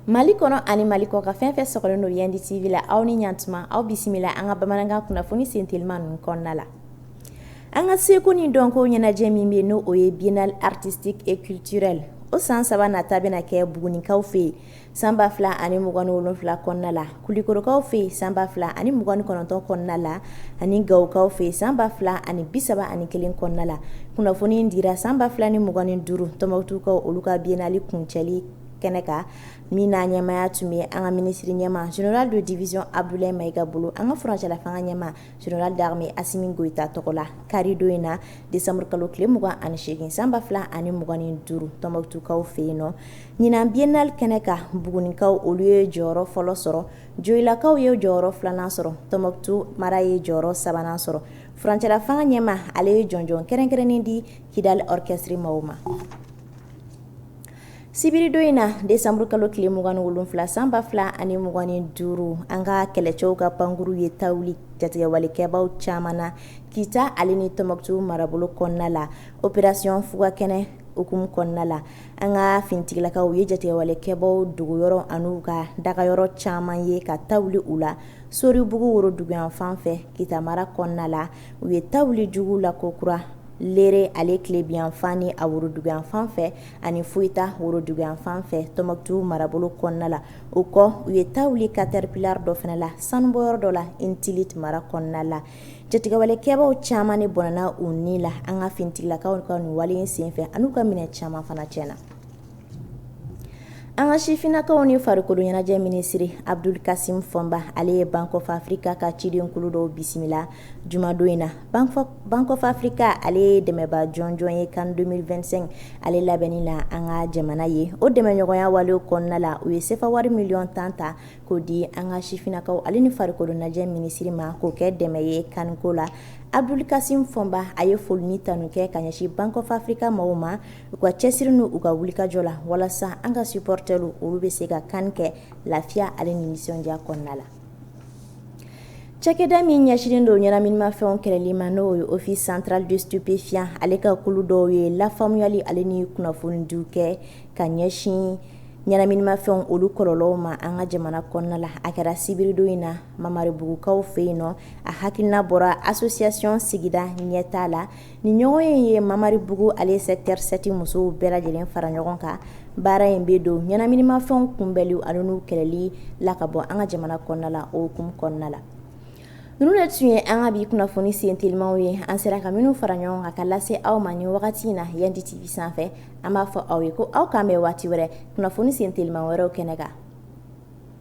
Mali kɔnɔ ani Mali kɔkan fɛn fɛn sɔgɔlen don Yandi TV la aw ni ɲantuma aw bisimila an ka bamanankan kunnafoni sentelima ninnu kɔnɔna la an ka seko ni dɔnko ɲɛnajɛ min bɛ n'o ye biennale artistique et culturelle o san saba nata bɛna kɛ Bugunikaw fɛ yen San ba fila ani mugan ni wolonwula kɔnɔna la Kulikorokaw fɛ yen san ba fila ani mugan ni kɔnɔntɔn kɔnɔna la ani Gawokaw fɛ yen san ba fila ani bisaba ani kelen kɔnɔna la kunnafoni in dira san ba fila ni mugan ni duuru Tɔnbukutukaw olu ka biennale kuncɛli kɛnɛ kan min n'a ɲɛmaya tun bɛ an ka minisiri ɲɛma général de division Abdoulaye Maïga bolo an ka furancɛlafanga ɲɛma Général d'armée Assimi Goïta tɔgɔ la karidon in na desanburukalo kalo tile mugan ani segin san ba fila ani mugan ni duuru Tɔnbukutukaw fɛ yen nɔ ɲinan biennale kɛnɛ kan Bugunikaw olu ye jɔyɔrɔ fɔlɔ sɔrɔ Joyilakaw ye jɔyɔrɔ filanan sɔrɔ Tɔnbukutu mara ye jɔyɔrɔ sabanan sɔrɔ furancɛlafanga ɲɛma ale ye jɔnjɔn kɛrɛnkɛrɛnnen di Kidali orchestre maaw ma Sibiridon in na desanburu kalo tile mugan ni wolonwula san ba fila ani mugan ni duuru an ka kɛlɛcɛw ka pankurun ye ta wuli jatigɛwalekɛbaw caman na Kita ale ni Tɔnbukutu marabolo kɔnɔna la opération Fugakɛnɛ hukumu kɔnɔna la an ka finitigilakaw ye jatigɛwalekɛbaw dogoyɔrɔ an'u ka dagayɔrɔ caman ye ka ta wuli u la Soribugu woroduguyanfan fɛ Kita mara kɔnɔna la u ye ta wuli jugu la kokura Lere ale tilebinyanfan ni a woroduguyanfan fɛ ani Foyita woroduguyan fan fɛ Tɔnbukutu marabolo kɔnɔna la, o kɔ, u ye ta wuli caterpillar dɔ fana la sanubɔ yɔrɔ dɔ la Intilit mara kɔnɔna la. Jatigɛwale kɛbaaw caaman de bɔnɛna u ni la an ka finitigilakaw ka nin wale in senfɛ ani u ka minɛ caaman fana cɛnna. An ka sifinnakaw ni farikolo ɲɛnajɛ minisiri Abudulu Kasimu Fɔnba, ale ye Bank of Africa ka ciden kulu dɔw bisimila. Jumadon in na Bank of Africa ale ye dɛmɛba jɔnjɔn ye CAN 2025 ale labɛnni na an ka jamana ye o dɛmɛɲɔgɔnya wale kɔnɔna la u ye sefa wari miliyɔn tan ta k'o di an ka sifinnakaw ale ni farikolo ɲɛnajɛ minisiri ma k'o kɛ dɛmɛ ye CAN ko la Abudulu Kasimu Fɔnba a ye foli ni tanu kɛ ka ɲɛsin Bank of Africa mɔgɔw ma u ka cɛsiri n'u ka wulikajɔ la walasa an ka supporters olu bɛ se ka CAN kɛ lafiya ale ni nisɔndiya kɔnɔna la Cakɛda min ɲɛsinnen don ɲɛnaminimafɛnw kɛlɛli ma n'o ye office central des stupéfiants ale ka kulu dɔw ye lafaamuyali ale ni kunnafonidiw kɛ ka ɲɛsin ɲɛnaminimafɛnw olu kɔlɔlɔw ma an ka jamana kɔnɔna la a kɛra sibiridon in na Mamaribugukaw fɛ yen nɔ a hakilina bɔra association sigida ɲɛtaa la Nin ɲɔgɔnye ye mamaribugu ale sɛkitɛri sɛti musow bɛɛ lajɛlen fara ɲɔgɔn kan baara in bɛ don ɲɛnaminimafɛnw kunbɛnli ani n'u kɛlɛli la ka bɔ an ka jamana kɔnɔna la o hukumu kɔnɔna la ninnu de tun ye an ka bi kunnafoni sen telimaw ye an sera ka minnu fara ɲɔgɔn kan ka lase aw ma nin wagati in na yan ditibi sanfɛ an b'a fɔ aw ye ko aw k'an bɛn waati wɛrɛ kunnafoni sen teliman wɛrɛw kɛnɛ kan